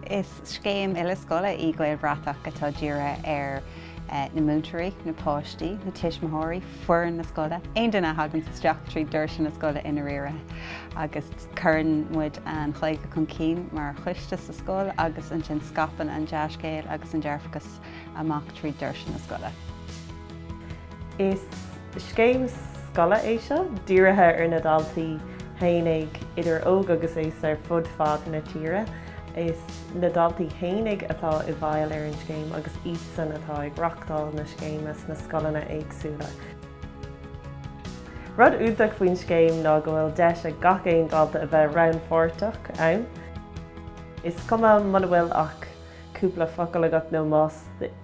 Is scéim uile-scoile í Gaelbhratach atá dírithe ar na múinteoirí, na páistí, na tuismitheoirí, foireann na scoile, aon duine a thaganns isteach tríd doirse na scoile i ndairíre. Agus cuireann muid an Ghaeilge chun cinn mar choiste sa scoil agus ansin scaipeann an dea-scéal agus an dearfachas. amach trí dhoirse na scoile. Is scéim scoile é seo, dírithe ar na daltaí fhéinig, idir óg agus aos, ar fud fad na tíre. Is na daltaí fhéinig atá i bhfeighil ar an scéim agus iadsan atá ag reachtáil na scéime sna scoileanna éagsúla. Rud iontach faoin scéim ná go bhfuil deis ag gach aon dalta a bheith rannpháirteach ann, is cuma muna bhfuil ach cúpla focal agat nó más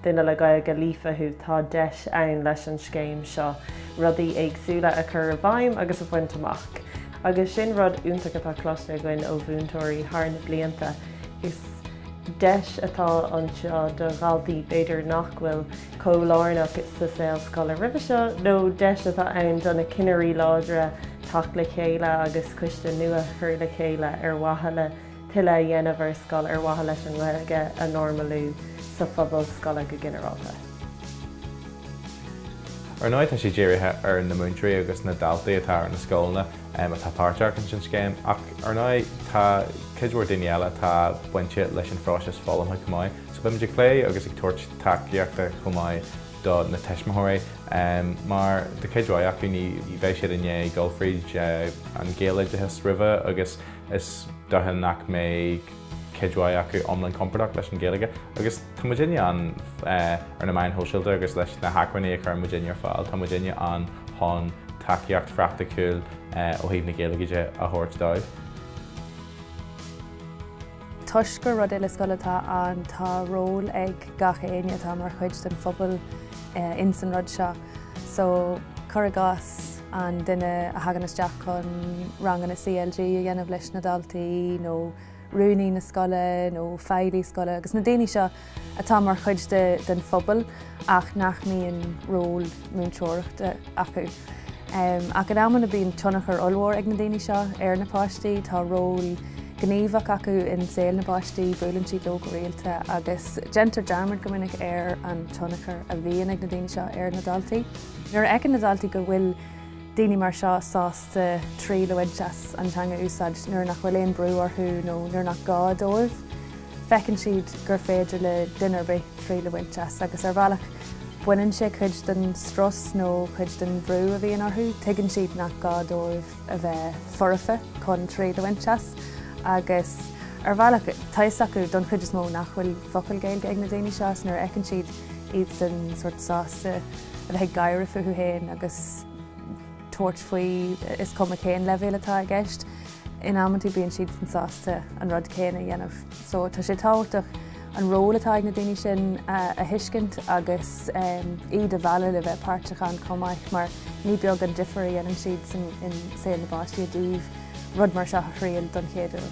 duine le Gaeilge líofa thú tá deis ann leis an scéim seo rudaí éagsúla a chur i bhfeidhm agus a bhaint amach agus sin rud iontach atá cloiste againn ó mhúinteoirí thar na blianta. Is deis atá anseo do dhaltaí b'fhéidir nach bhfuil chomh lárnach sa saol scoile roimhe seo nó deis atá ann do na cinnirí láidre teacht le chéile agus coiste nua a chur le chéile ar mhaithe le tuilleadh a dhéanamh ar scoil ar mhaithe leis an nGaeilge a normalú sa phobal scoile go ginearálta. Ar ndóigh tá sé dírithe ar na múinteoirí agus na daltaí atá ar na scoileanna atá páirteach ins an scéim ach ar ndóigh tá cuid mhór daoine eile atá bainte leis an phróiseas foghlamtha chomh maith so beimid ag plé agus ag tabhairt tacaíochta chomh maith do na tuismitheoirí mar de cuid mhaith acu ní bheidh siad i ndiaidh dul fríd an ghaeloideachas roimhe agus Is dócha nach mbeidh cuid mhaith acu iomlán compordach leis an Ghaeilge agus tá muid inne ann ar na meáin sóisialta agus leis na hacmhainní a chuireann muid inne ar fáil tá muid inne ann chun tacaíocht phraicticiúil ó thaobh na Gaeilge de a thabhairt dóibh. Toisc gur rud uile scoile atá ann tá ról ag gach éinne atá mar chuid den phobal in san rud seo so cur i gcás, an duine a thagann isteach chun ranganna CLG a dhéanamh leis na daltaí nó rúnaí na scoile nó feighlí scoile agus na daoine seo atá mar chuid den phobal ach nach mbíonn ról múinteoireachta acu. Ach in amanna bíonn tionchar ollmhór ag na daoine seo ar na páistí, tá ról gníomhach acu i saol na bpáistí, buaileann siad leo go rialta agus déantar dearmad go minic ar an tionchar a bhíonn ag na daoine seo ar na daltaí. Nuair a fheiceann na daltaí go bhfuil daoine mar seo sásta triail a bhaint as an teanga a úsáid nuair nach bhfuil aon brú orthu nó nuair nach gá dóibh, feiceann siad gur féidir le duine ar bith triail a bhaint as agus ar bhealach baineann sé cuid den strus nó cuid den bhrú a bhíonn orthu. Tuigeann siad nach gá dóibh a bheith foirfe chun triail a bhaint as agus ar bhealach tá fhios acu don chuid is mó nach bhfuil focal Gaeilge ag na daoine seo agus nuair a fheiceann siad iadsan sórt sásta a bheith ag gáire fúthu féin agus tabhairt faoi is cuma cén leibhéal atá i gceist, in am trátha bíonn siadsan sásta an rud céanna a dhéanamh. So tá sé tábhachtach an ról atá ag na daoine sin a thuiscint agus iad a mhealladh le bheith páirteach ann chomh maith mar ní beag an difear a dhéanann siad i saol na bpáistí i dtaobh rud mar seo a thriail don chéad uair.